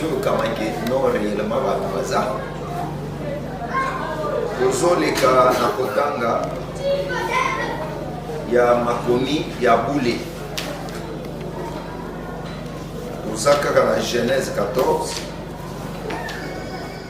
ezolukama ke no réellement bato baza kozoleka na kotanga ya makomi ya bule toza kaka na genèse 14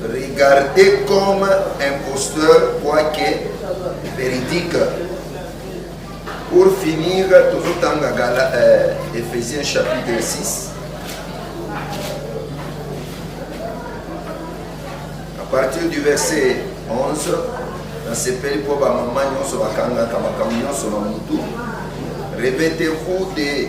Regardez comme imposteur quoique véridique. Pour finir, tozotanga gala euh, Ephésiens chapitre 6. À partir du verset 11, nasepeli mpo bamama nyonso bakangaka makambo nyonso na motu répétez-vous de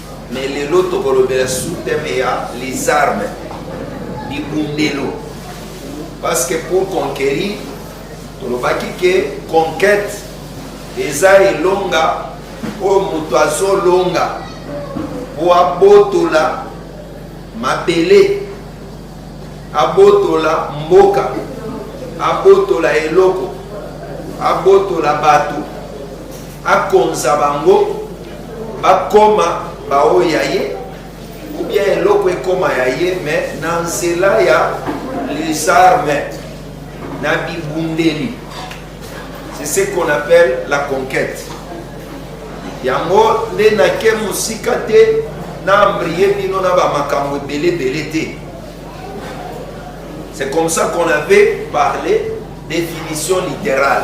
Mais lelo tokolobela sous thème ya les armes libundelo parce que pour conquérir tolobaki ke conquête eza elonga oyo moto azolonga mpo abotola mabele abotola mboka abotola eloko abotola bato akonza bango bakoma baoyo ya ye ou bien eloko ekoma ya ye me na nzela ya les armes na bibundeli c'est ce qu'on appelle la conquête yango nde nake mosika te na ambrie bino na bamakambo ebele ebele te c'est comme ça qu'on avait parlé définition littérale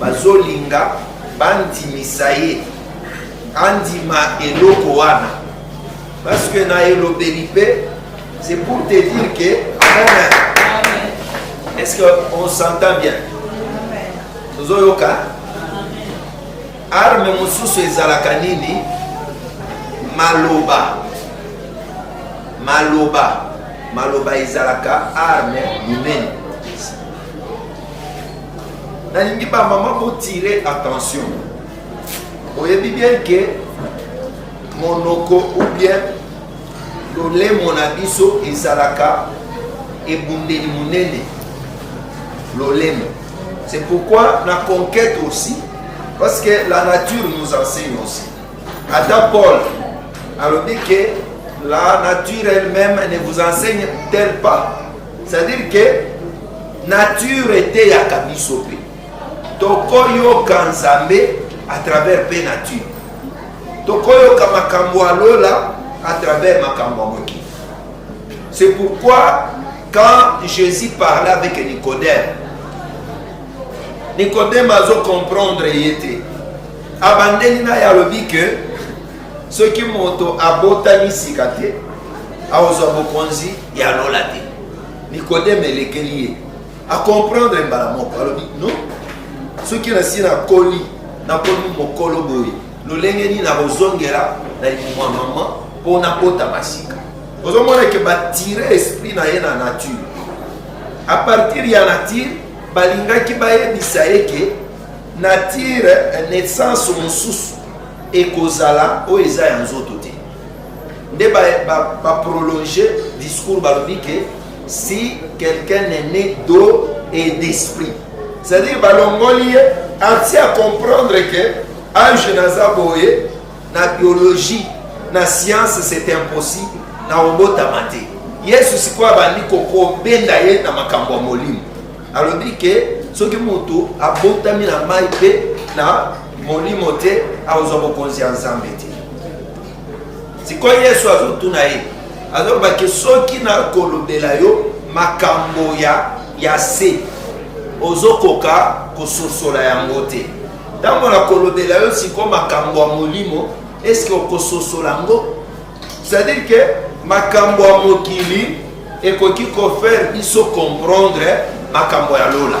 Bazolinga bandimisa ye andima eloko wana parce que na elobeli pe c'est pour te dire que est-ce que on s'entend bien tozoyoka arme mosusu ezalaka nini maloba maloba maloba ezalaka arme monene nalingi bamama botire attention oyebi bien ke monoko ou bien lolemo na biso ezalaka ebundeli monene lolemo c'est pourquoi na conquête aussi parce que la nature nous enseigne aussi ata paul alobi ke la nature elle-même ne vous enseigne tel pas C'est à dire que nature eteyaka biso mpe tokoyoka nzambe à travers mpe nature tokoyoka makambo ya lola à travers makambo ya mokili c'est pourquoi quand jésus parlait avec nicodème nicodème azo comprendre ye te abandeli na ye alobi que soki moto abotami sika te akozwa bokonzi ya lola te nikodeme elekeli ye akomprendre mbala moko alobi no soki nasi nakoli nakomi mokolo boye lolenge nini nakozongela na limwa mama mpo nakotama sika ozomona eke batire esprit na ye na nature a partir ya nature balingaki bayebisa ye ke nature naissance mosusu ekozala oyo eza ya nzoto te nde baprolonge ba, ba discours balobi ke si quelqu'un est né d'eau et d'esprit c'est-à-dire balongoli ye ati a comprendre ke age naza boye na biologie na science c'est impossible na obotama te yesu sikoyo abandi kobenda ye na makambo ya molimo alobi ke soki moto abotami na mai mpe na molimo te akozwa bokonzi ya nzambe te sikoyo yesu azotuna ye azoloba ke soki nakolobela yo makambo ya ya se ozokoka kososola yango te ntango nakolobela yo sikoyo makambo ya molimo eske okososola yango C'est-à-dire que makambo ya mokili ekoki kofaire biso comprendre makambo ya lola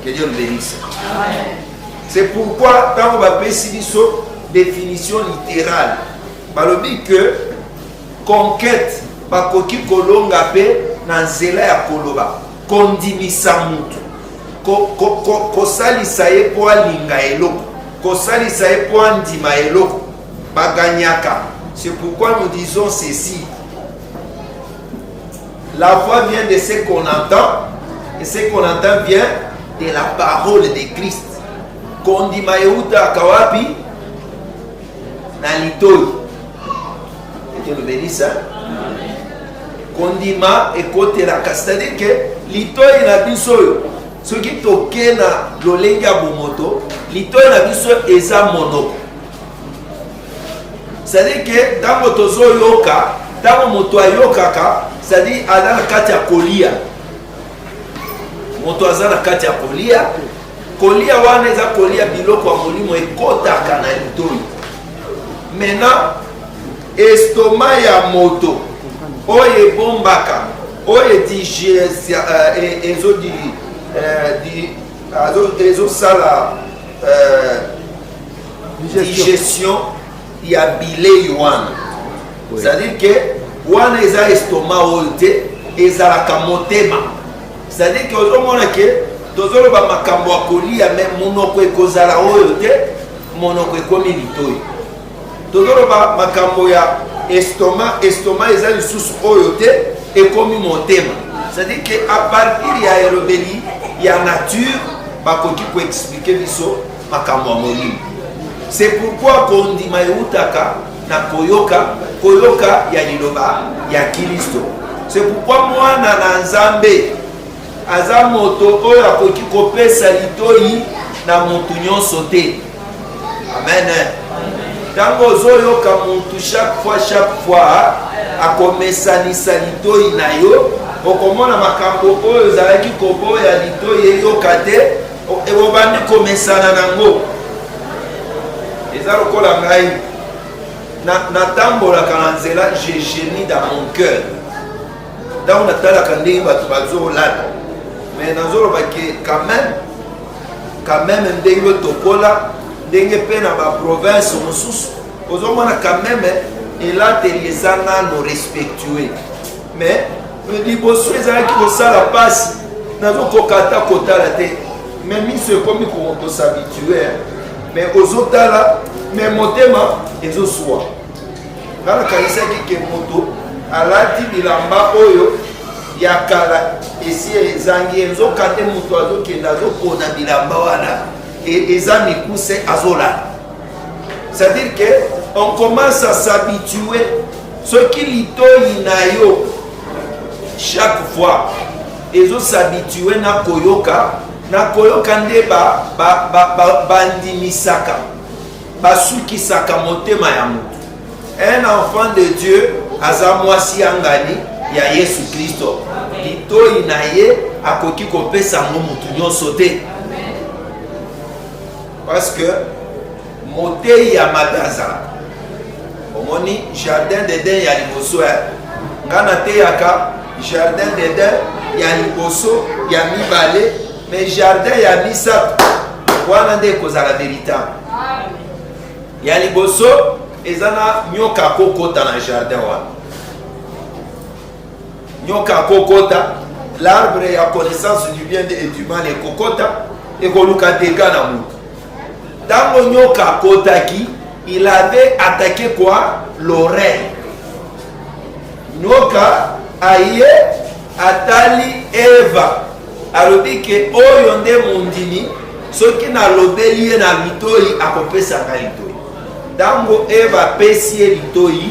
que dieu nous bénisse c'est pourquoi ntango bapesi biso définition littérale balobi que conquête bakoki kolonga mpe na nzela ya koloba kondimisa motu kosalisa ko, ko, ye mpo alinga eloko kosalisa ye mpo andima eloko Ba gagnaka. C'est pourquoi nous disons ceci. La voix vient de ce qu'on entend et ce qu'on entend vient de la parole de Christ. Kondima euta kawapi na litoi. Et tu le bénis ça. kondima ekotelaka c'est-à-dire ke litoi na biso oyo soki toke na lolenge ya bomoto litoi na biso eza monoko cestadire ke ntango tozoyoka ntango moto ayokaka cestadire aza na kati ya kolia moto aza na kati ya kolia kolia wana eza kolia biloko ya molimo ekotaka na litoi mena estoma ya moto oyo ebombaka oyo ezosala digestion ya bilei wana c'est-à-dire que wana eza estoma oyo te ezalaka motema c'est-à-dire que ozomona ke tozoloba makambo ya kolia me monoko ekozala oyo te monoko ekomi litoi tozoloba makambo ya estoma estoma eza lisusu oyo te ekomi motema c'est-à-dire que à partir ya elobeli ya nature bakoki koexplike biso makambo ya molimo c'est pourquoi kondima eutaka na koyoka koyoka ya liloba ya kilisto c'est pourquoi mwana na nzambe aza moto oyo akoki kopesa litoi na moto nyonso te amen ntango ozoyoka motu chaque fois chaque fois akomesanisa litoi na yo okomona makambo oyo ozalaki koboya litoi eyoka te Obandi komesana nango, eza lokola ngai natambolaka na nzela je genie dans mon cœur ntango natalaka ndenge bato bazolata mais nazoloba ke quand même quand même ndenge otokola ndenge mpe na baprovince mosusu ozomona quand même elateli eza nano respectue mais liboso ezalaki kosala pasi nazokoka ata kotala te mais miso ekomi kosabitue mais ozotala mais motema ezoswa nga nakanisaki ke moto alati bilamba oyo ya kala esi ezangi ye nzoka nde moto azokende azopona bilamba wana e, eza mikuse azolata c'est-à-dire que on commence à s'habituer soki litoyi na yo chaque fois ezo s'habituer na koyoka na koyoka nde bandimisaka ba, ba, ba basukisaka motema ya moto un enfant de dieu aza mwasi ya ngani ya yesu kristo litoyi na ye akoki kopesa yango motu nyonso te parce que moteyi ya mabe azalaka omoni jardin d'eden ya liboso ya nga nateyaka jardin d'eden ya liboso ya mibale mais jardin ya misato wana nde ekozala veritable ya liboso eza na nyoka akokota na jardin wana nyoka akokota l'arbre ya connaissance du bien et du mal ekokota ekoluka dega na moto ntango nyoka akotaki il avait attaqué quoi l'oreille nyoka aye atali eva alobi ke oyo nde mondimi soki nalobeli ye na litoi akopesa ngai litoi ntango eva apesi ye litoi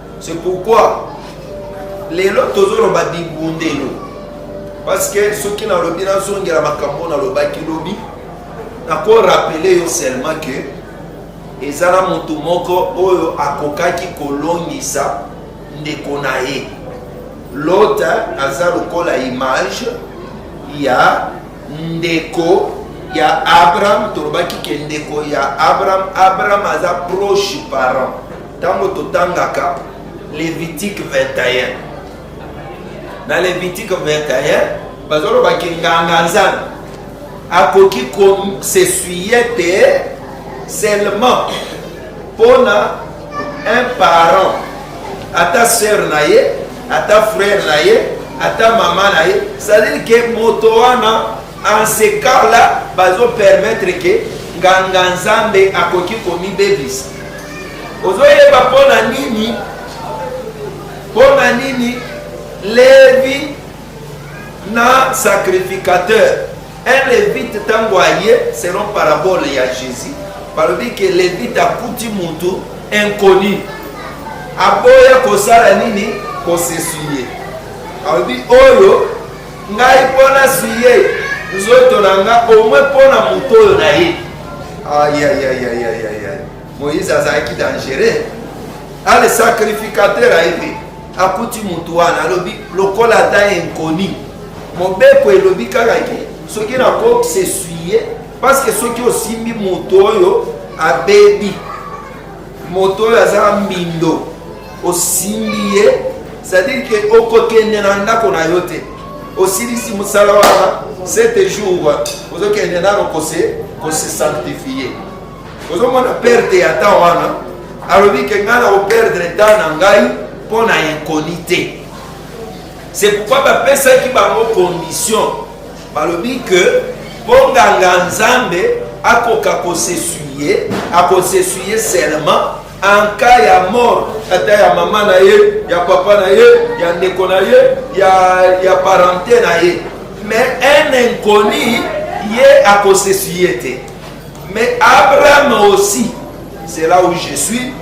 C'est pourquoi lelo tozoloba bibundelo parce que soki nalobi nazongela makambo nalobaki lobi nakorapele yo seulement que eza na moto moko oyo akokaki kolongisa ndeko na ye lota aza lokola image ya ndeko ya abraham tolobaki ke ndeko ya abraham abraham aza proche parent Tango totangaka Levitique 21. Na Levitique 21, bazoloba ke nganga nzambe akoki kosesuye te seulement mpona un parent ata sœur na ye ata frère na ye ata mama na ye c'est-à-dire ke moto wana En ce cas là, bazo permettre que nganga nzambe akoki komibebisa. Ozoyeba mpo na nini? Mpo na nini Levi na sacrificateur un levite ntango aye selon parabole ya Jésus balobi ke levite akuti motu inconnu aboya kosala nini kosesuye alobi oyo Ngai mpo nazwi ye nzoto na nga omwe mpo na moto oyo na ye ayayayayayaya moïse azalaki dangereux ale sacrificateur aye te akuti motu wana alobi lokola ata inconi mobeko elobi kaka ke soki nakosesuye parceke soki osimbi moto oyo abebi moto oyo aza mbindo osimbi ye c'est-à-dire que okokende na ndako na yo te osilisi mosala wana sete jour ozokende nano kose kose sanctifie ozomona perte ya temps wana alobi ke ngai na koperdre temps na ngai mpo na inconi te c'est pourquoi bapesaki bango condition balobi ke mpo nganga nzambe akoka kosesuye akosesuye seulement en cas ya mort ata ya mama na ye ya papa na ye ya ndeko na ye ya, ya parente na ye mais un inconnu ye akosesuye te mais abraham aussi c'est là où je suis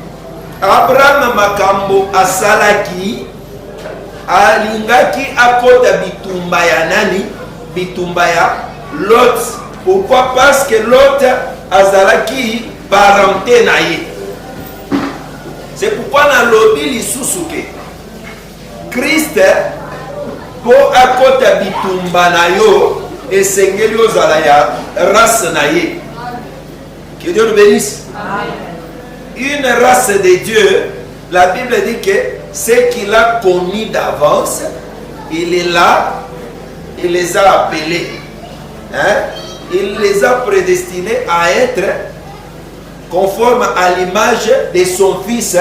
abraham makambo asalaki alingaki akota bitumba ya nani bitumba ya lot pourquoi parce que lot azalaki parente na ye c'est pourquoi nalobi lisusu ke kriste mpo akota bitumba na yo esengeli ozala ya race na ye que dieu nous bénisse une race de dieu la bible dit que ce qu'il a connu d'avance il est là il les a appelés Hein? Il les a prédestinés à être conforme à l'image de son fils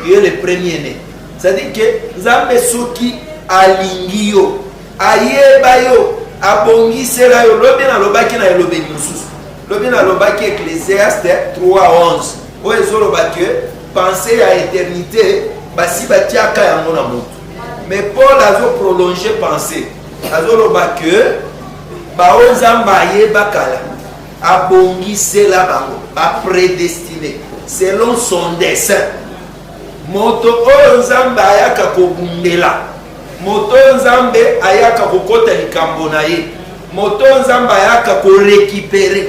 qui est le premier né. C'est-à-dire que Nzambe soki alingi yo, ayeba yo, abongisela yo, lobi na lobaki na elobeli mosusu. Lobi na lobaki Ecclésiaste 3:11. Oyo ezoloba que pensée ya éternité basi batiaka yango na moto. mais paul azo prolonge pensée azoloba ke baoyo nzambe ayeba kala abongisela bango bapredestine selon son dessin moto oyo nzambe ayaka kobundela moto oyo nzambe ayaka kokota likambo na ye moto oyo nzambe ayaka korekipere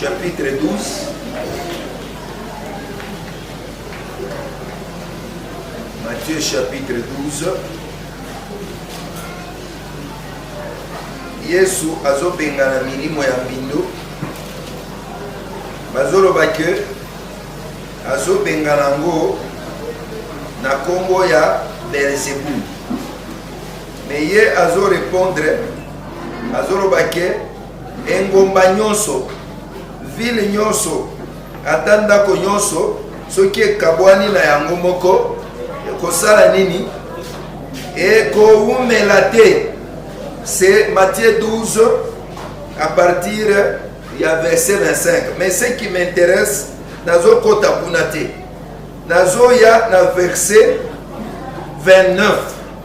Chapitre 12 Matthieu chapitre 12 Yesu azobengana milimo ya mbindo bazoloba ke azobengana yango na nkombo ya belzebul me ye azorepondre azoloba ke Engumba nyonso, vile nyonso, ata ndako nyonso, soki ekabwani na yango moko, ekosala nini? Ekowumela te. Se Matthieu 12 a partir ya verset 25. Mais ce qui m'intéresse, nazokota kuna te, nazoya na verset 29.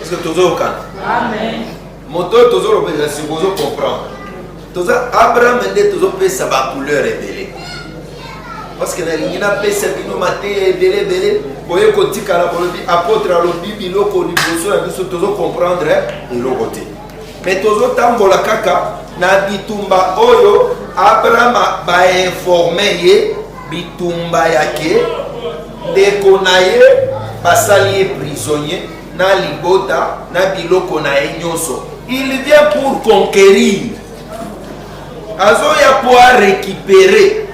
Est-ce que tozo yokana? Amen. Moto oyo tozo lobela si bozo comprendre. Toza Abraham nde tozo pesa ba couleur ebele. Parce que nalingi na pesa bino mateya ebele ebele boye kotikala bolobi apôtre alobi biloko liboso na biso tozo comprendre eh, eloko te. Mais tozo tambola kaka na bitumba oyo Abraham ba informer ye bitumba yake ndeko na ye basali ye prisonnier na libota na biloko na ye nyonso il vient pour conquérir azoya mpo arécupere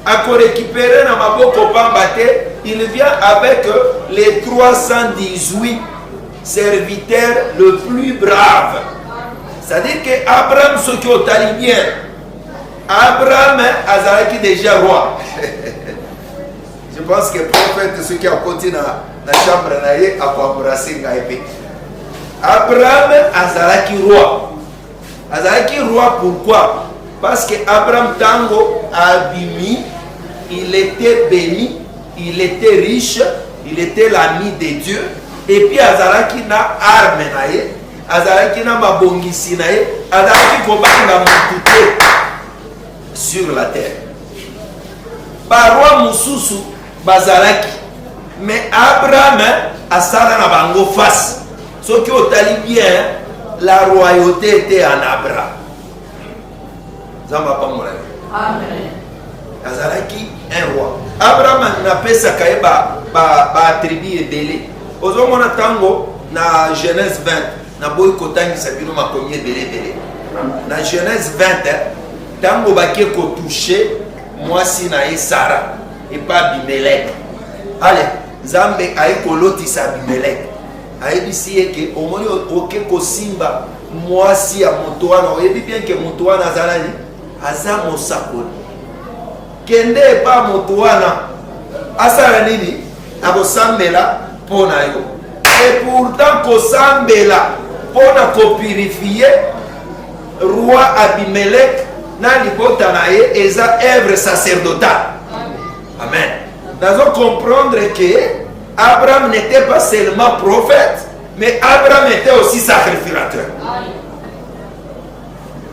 akorécupere na maboko pamba te il vient avec les 318 serviteurs le plus brave c'est-à-dire que abraham soki otali bien abraham azalaki déjà roi Je pense que prophète soki akoti na, na chambre na ye akoembrase ngai mpe. Abraham azalaki roi. Azalaki roi pourquoi? Parce que Abraham tango abimi, il était béni, il était riche, il était l'ami de Dieu et puis azalaki na arme na ye, azalaki na mabongisi na ye, azalaki kobanga mutu te. sur la terre baroi mosusu bazalaki mais abraham asala na bango face soki otali bien la royauté ete en abraham nzambe apambola yo azalaki un roi abraham napesaka ye baattribut ebele ozomona ntango na genèse 20 naboyi kotangisa bino makomi ebele ebele na genèse 20 ntango bake kotouche mwasi na ye sara epa abimelek ale nzambe aye kolotisa abimelek ayebisi ye ke omoni oke kosimba mwasi ya moto wana oyebi bien ke moto wana azalali aza mosakoli Kende epa moto wana asala nini? Akosambela mpo na yo. Et pourtant kosambela mpo na kopurifie roi Abimelek na libota na ye eza œuvre sacerdotale. Amen. Nazo comprendre que Abraham n'était pas seulement prophète, mais Abraham était aussi sacrificateur.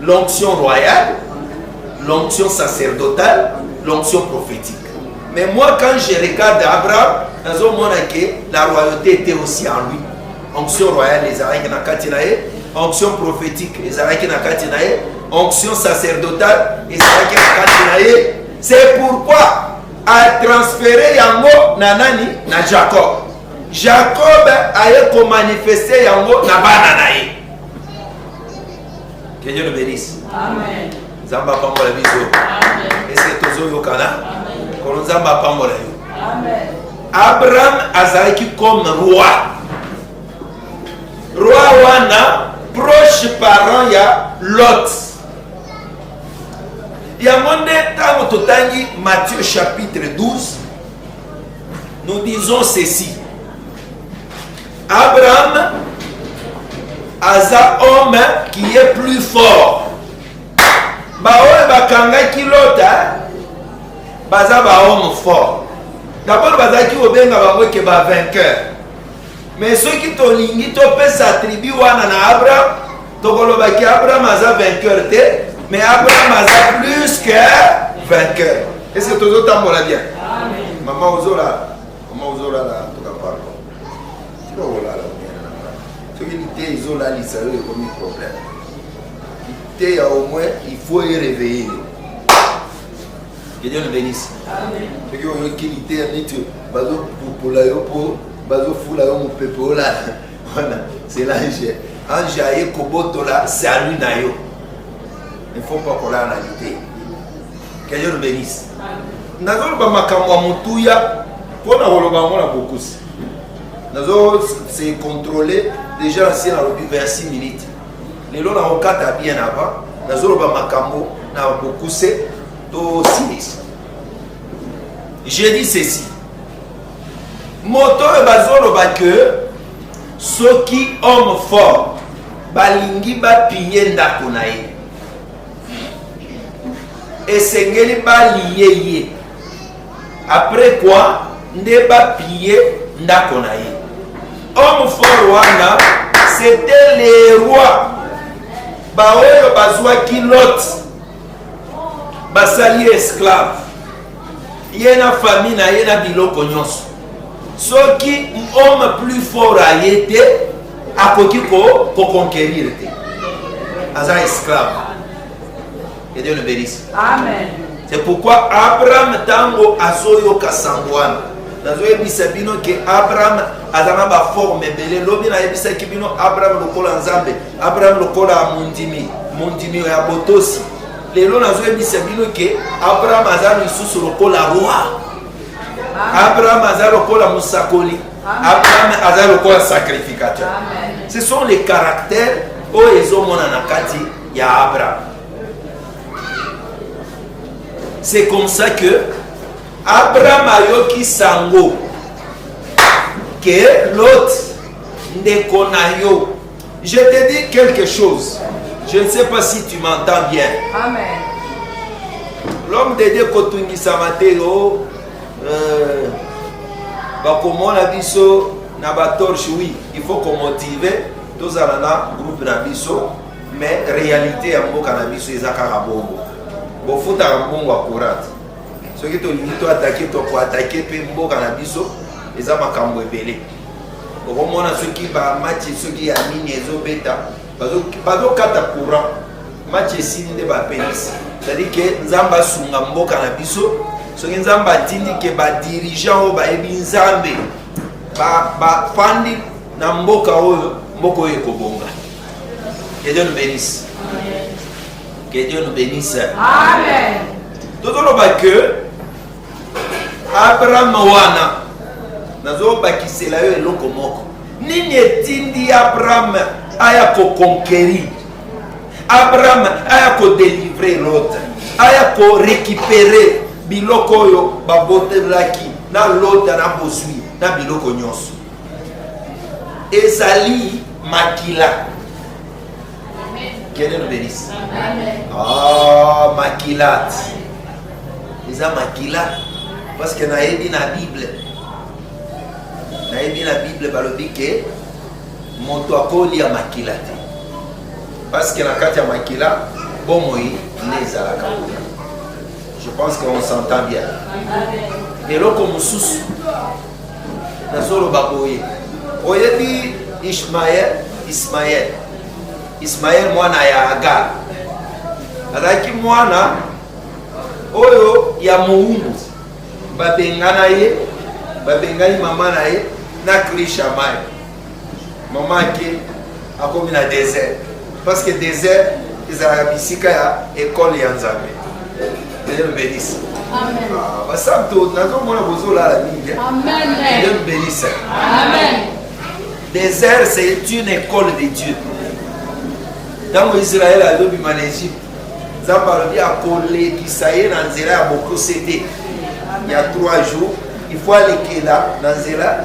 L'onction royale, l'onction sacerdotale, l'onction prophétique. Mais moi, quand je regarde Abraham, nazo mona que la royauté était aussi en lui. Onction royale les arrêts na kati na ye, onction prophétique les arrêts na kati na ye, onction sacerdotale les arrêts na kati na ye. C'est pourquoi a transféré yango na nani na Jacob. Jacob aye ko manifester yango na bana na ye. Que Dieu nous bénisse. Amen. Nzambe apambola biso. Amen. Ese tozoyokana. Kolo Nzambe apambola yo. Amen. Abraham azalaki comme roi. Roi wana proche parent ya Lot. yango nde ntango totangi matthieu chapitre 12 nous disons ceci Abraham aza homme qui est plus fort. Baoyo bakangaki Lota baza ba homme fort. D'abord bazalaki kobenga bango eke ba vainqueur. Mais soki tolingi topesa tribu wana na Abraham, tokoloba ki Abraham aza vainqueur te, mais Abraham aza plus que vainqueur. Est-ce que tozotambola bien? Amen. Maman Ozola, maman Ozola là. soki liteya ezolalisa yo ekomi problème liteya au moins il faut ereveille yo que Dieu le bénisse soki oyoki liteya neti bazopupola yo mpo bazofula yo mopepe olala wana c'est l'ange ange aye kobotola salut na yo il faut pas kolala na liteya que Dieu le bénisse nazoloba makambo ya motuya mpo na koloba yango na bokusi nazo se contrôler déjà na sie nalobi vers 6 minutes lelo nakokata bien avant nazoloba makambo na bokuse to silisa j'ai dit ceci moto oyo bazoloba ke soki homme fort balingi bapinye ndako na ye esengeli balie ye apres kua nde bapie ndako na ye homme fort wana c'était le roi baoyo bazwaki lot basali esclave ye na famille na ye na biloko nyonso soki homme plus fort aye te akoki koconquerir te aza esclave ede nobelisi c'est pourquoi abraham ntango azoyoka sango wana nazoyebisa bino ke abraham aza na baforme ebele lobi nayebisaki bino abraham lokola nzambe abraham lokola mondimi mondimi ya botosi lelo nazoyebisa bino ke abraham aza lisusu lokola roi abraham aza lokola mosakoli abraham aza lokola sacrificateur ce sont les caractères oyo ezomona na kati ya abraham c'est comme ça que abraham ayoki sango ke lot ndeko na yo Je te dis quelque chose. Je ne sais pas si tu m'entends bien. Amen. L'homme de Dieu kotungisa matelo euh, bakomona biso na batorche oui il faut komotive tozala na groupe na biso mais réalité ya mboka na biso eza kaka bongo bofutaka mbongo ya courante soki tolingi toatake tokoatake mpe mboka na biso eza makambo ebele okomona soki ba match soki ya nini ezobeta bazokata courant match esili nde bapelisi cetadire ke nzambe asunga mboka na biso soki nzambe atindi ke badirigant oyo bayebi nzambe bafandi na mboka oyo mboka oyo ekobonga que dieu nous bénisse que dieu nous bénisse tozoloba que Abraham wana nazobakisela yo eloko moko nini etindi abraham aya koconquerir abraham aya kodelivre lot aya korekipere biloko oyo babotelaki na lota na bozwi na biloko nyonso ezali makila Que Dieu nous bénisse. Oh, makila. Eza makila. Parce que nayebi na Bible. Nayebi na Bible balobi ke moto akolia makila te. Parce que na kati ya makila bomoi nde ezalaka kuna. Je pense qu'on s'entend bien. Eloko mosusu nazoloba boye oyebi ishmael ismael ismael mwana ya agar azalaki mwana oyo ya mowumbu babengana ye babengani mama na ye na krishamai Maman Ake akomi na désert parce que désert ezalaka bisika ya école ya Nzambe. Dieu nous bénisse. Amen. Ah, basanto nazomona bozolala mingi. Amen. Dieu nous bénisse. Amen. Désert c'est une école de Dieu. Ntango Israël azobima na Égypte nzambe alobi akolekisa ye na nzela ya bokose te ya 3 jours il faut alekela na nzela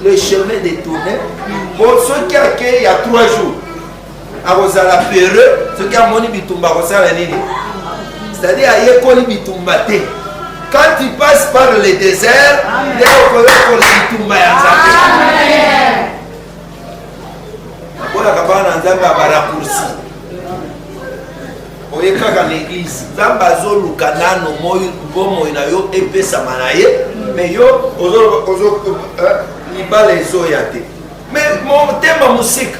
le chemin de tourne po soki akei ya 3 jours akozala peureux soki amoni bitumba akosala nini c'est-à-dire ayekoli bitumba te quand tu passes par le désert nde okoyokoli bitumba ya nzambe nakolaka bana na nzambe ya barakursi oye kaka na eglise nzambe azoluka nano bomoi na yo epesama na ye me yo eh, libala ezoya te me motema mosika